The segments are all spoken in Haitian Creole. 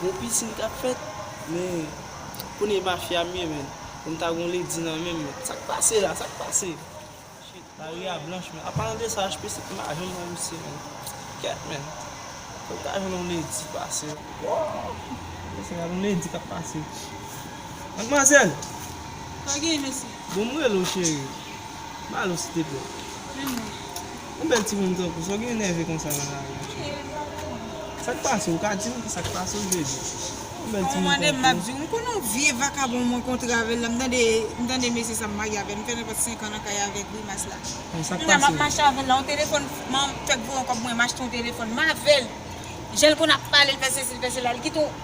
Bon pisin kap fèt men kounye mafya m ye menn pou m ta gon lady nan menm menn sak pase la sak pase shitt lari a blanch menn anpalan de sa HPC m pa janm wè misye menn kèt menn fòk ta jwenn yon lady pase woo se yon lady kap pase madmwazèl sa gen mesye bon m rele w cheri m ale w silteplè menm non. Yon bèl timoun tankou sa w gen nève konsa nan lari a cheri. Sa k pase w? Ou ka di m ki sa k pase w jezi. Yon bèl timoun tankou w. Ou mande m m ap di w. M konnen yon vye vakabon mwen kontre avè l la. M tande m tande mesye sa m marye avè l. M fè nenpòt 5 an nan kay avèk grimas la. Bon sa k pase w? Kounya m ap mache avè l la. Yon telefòn man m fèk voye yon kòb mwen m achte yon telefòn. M avè l. Jan l konn ap pale l fè sesi l fè sela. Li kite yon.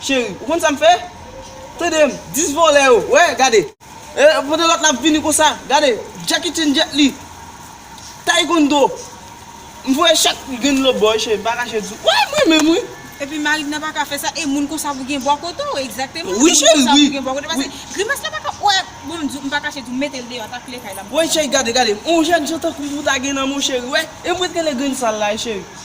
Cheri ou konn sa m fè Tande m 10 vòlè yo wè gade Eeh pandan lòt la ap vini konsa Gade Jackie Chan jet li Taekwondo M voye chak grenn lòt bò wi cheri m pa kache di w Wè m renmen m wi. Epi marim nan paka fè sa e moun konsa pou gen bò kote w Exactement Moun konsa pou gen bò kote w Pase grimas la paka wè Bon m di w m pa kache di w mete l deyò ta kle kay la m paka Wè cheri gade gade On jèn jan tankou w pou ta gen nan men w cheri wè E m ret rele grenn sal la wi cheri.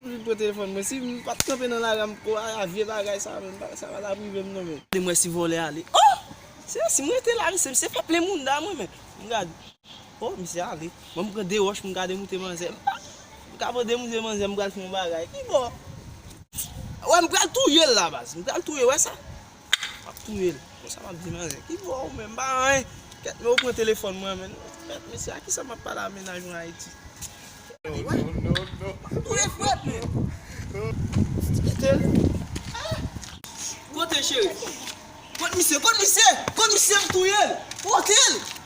Li pran telefòn mwen sim pat kanpe nan lari a m pko al a vye bagay sa menm sa pa tap rivem non menm. Li mwen si vòlè a li oh se sim rete la mesye misye pèple mounda mwen menm m gad oh misye ale banm pran 2 wòch m gade moute manzè m pa m ka pran 2 moute manzè m pral fon bagay kibò wè m pral touyel la baz m pral touyel wè sa Map touye l. Bon sa map di manzè. Ki vwa ou menm? M pa anyen. Kèt men ou pran telefòn mwen men. Mèt mesye a kisa map pale a mennaj mwen Ayiti. Ou wè? Non non non. Map touye frèt men. Ti kite l. Kote cheri? Kot misye? Kot misye? Kot misye? M touye l. Pote l.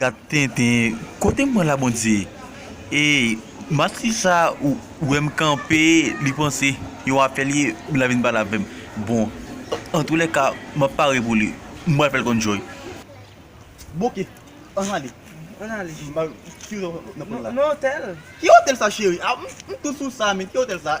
Gad tenten kotem pran la bondye. Eyy matri sa ou wèm kanpe li panse yon afè li ye la vin pale avèm bon antoulèka map pare pou li m pral fèl konn joy. Bouke ann ale ann ale m pa wè ki otèl nan pran la. Nan otèl. Ki otèl sa cheri ah m tout sou sa men ki otèl sa.